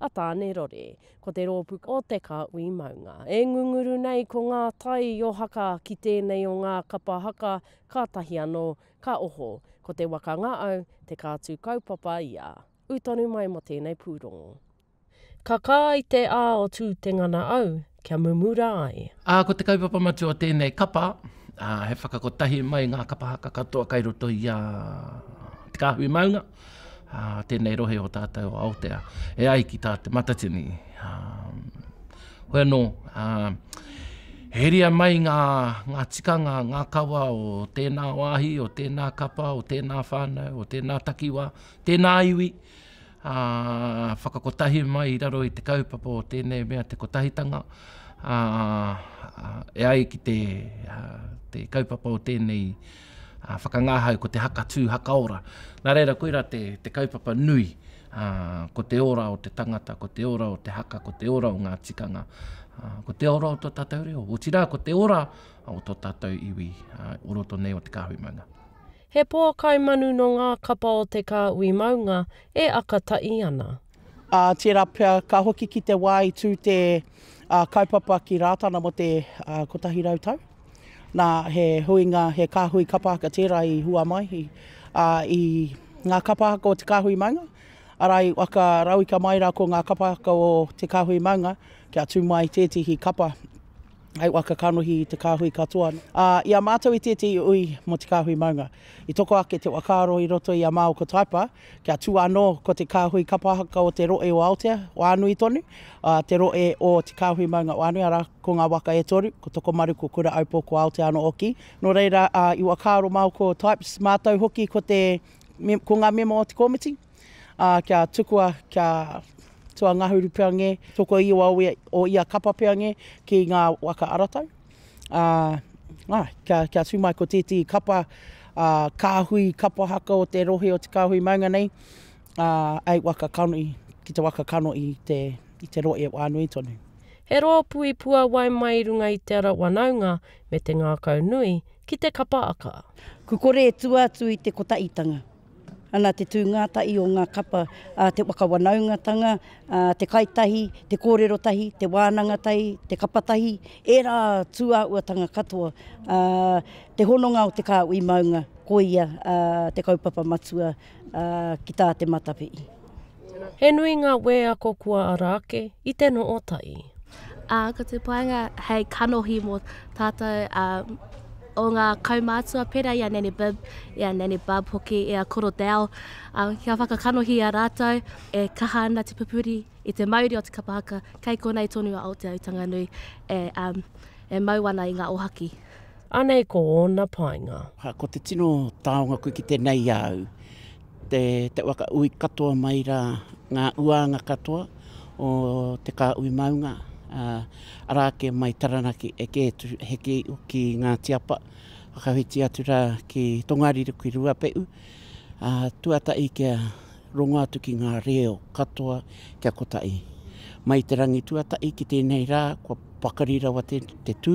a Tāne Rore. Ko te rōpū o Te Kāhui Maunga e ngunguru nei ko ngā tai o haka ki tēnei o ngā kapa haka kātahi anō ka oho. Ko Te Waka Ngaau te kātū kaupapa ia. Ū tonu mai mō tēnei pūrongo. Ka kā i te ā o Tūtengana au kia mumura ai. Ā, ko te kaupapa matua o tēnei kapa, ā, he whakakotahi mai ngā kapa haka katoa kai roto i a Te Kāhui Maunga, ā, tēnei rohe o tātou o Aotea, e ai ki tā Te Matatini. Ā, hoi anō, ā, heria mai ngā, ngā tikanga, ngā kawa o tēnā wāhi, o tēnā kapa, o tēnā whānau, o tēnā takiwā, tēnā iwi, ā, whakakotahi mai i raro i te kaupapa o tēnei mea te kotahitanga, ā, e ai ki te, te kaupapa o tēnei whakangahau ko te haka tū, haka ora. Nā reira, koirā te, te kaupapa nui, ā, ko te ora o te tangata, ko te ora o te haka, ko te ora o ngā tikanga, ā, ko te ora o tō tātou reo, otirā ko te ora o tō tātou iwi, ā, o roto nei o te kāhui maunga. He pō kai manu nō ngā kapa o te kāhui maunga e aka taʻi ana. Ā, tērā pea, ka hoki ki te wā i tū te kaupapa ki Rātana mō te kotahi rau tau. Nā, he huinga, he kāhui kapa haka tērā i hua mai, ā, i ngā kapa haka o te kāhui maunga, arā, i waka rauika mai rā ko ngā kapa haka o te kāhui maunga kia tū mai tētehi kapa. Hei waka kanohi i te kāhui katoa. Ā, i a mātou i tētehi ui mō te kāhui maunga. I toko ake te whakaaro i roto i a Maoko Taipa, kia tua anō ko te kāhui kapa haka o te rohe o Aotea, o Anui tonu, ā, te rohe o te kāhui maunga o Anui, arā, ko ngā waka e toru, ko Tokomaru, ko Kuraʻaupō, ko Aotea anō hoki. Nō reira, ā, i whakaaro Maoko Taipes, mātou hoki ko te, ko ngā mema o te komiti, ā, kia tukua kia tuangahuru pea ngē, toko iwa o ia kapa pea ngē ki ngā waka aratau, ā, ā, kia, kia tū mai ko tētehi kapa, ā, kāhui kapa haka o te rohe o Te Kāhui Maunga nei, ā, eight waka kanohi, ki te waka kanohi i te, i te rohe wā nui tonu. He rōpū i puāwai mai i runga i te ara wanaunga me te ngākau nui ki te kapa aka. Kukore e tua atu i te kotaʻitanga. Ana te tū ngātahi o ngā kapa a te waka wanaungatanga, te kai tahi, te kōrero tahi, te wānanga tahi, te kapa tahi, ērā tūāhuatanga katoa, te hononga o te kāhui maunga, koia te kaupapa matua ki tā te Matawhiti. He nui ngā wēako kua ara ake i te noo tai. Ā, ko te painga hei kanohi mō tātou, ā, o ngā kaumātua pērā i a Nanny Bib, i a Nanny Bub hoki, i a Koro Dale, ā, kia whakakanohia rātou e kaha ana te pupuri i te mauri o te kapa haka kei konei tonu a Aotearoa Tanganui e, ā, e mau ana i ngā ohaki. Anei ko ōna painga. Ko te tino taonga koe ki tenei au. Te te waka ui katoa mai ra nga uaanga katoa o te Kaaui Maunga, a, ara ake mai Taranaki e ke atu he ki ki Ngati Apa, whakawhiti atu ra ki Tongariro ki Ruape'u, a, tuata'i kia rongo atu ki nga reo katoa kia kota'i. Mai te rangi tuata'i ki tenei ra kua pakari rawa te te tu,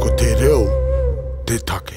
Ko te reo te take.